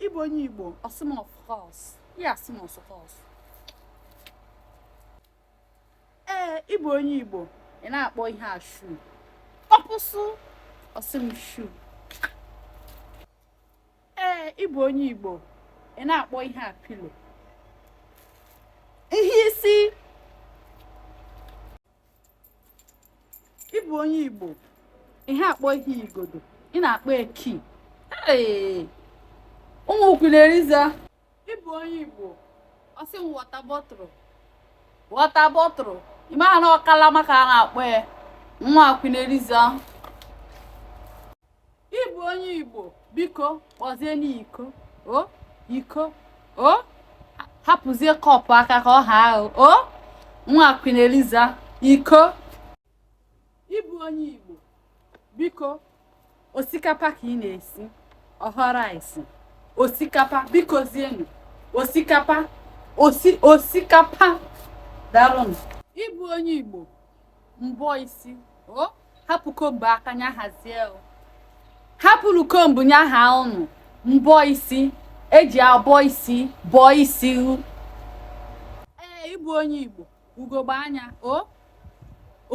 ị bụ onye Igbo ọ sị m of course ya asị m of course ee ị bụ onye Igbo ị na-akpọ ihe a shoe ọpụsụ ọ sị m shoe ee ị bụ onye Igbo ị na-akpọ ihe a pillow ihe isi ị bụ onye igbo ihe akpọ ihe igodo ị na-akpọ ya key ụmụ Queen Eliza ị bụ onye igbo ọ sị m water bottle water bottle ị mara na ọ kalama ka a na-akpọ ya nwa Queen Eliza ị bụ onye igbo biko kpọzienụ iko o iko o hapụzie cup aka ka ọ ha ahụ o nwa Queen Eliza iko ị bụ onye igbo biko osikapa ka ị na-esi ọ họ rice osikapa bikozienụ osikapa osi osikapa darụnụ ị bụ onye igbo mbọ isi o hapụ comb aka nya hazie o. hapụrụ comb nya ha ụnụ mbọ isi e ji abọ isi bọọ isi u. ee ị bụ onye igbo ugogbe anya o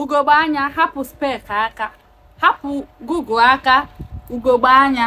ugogbe anya hapụ spec aka hapụ goggle aka ugogbe anya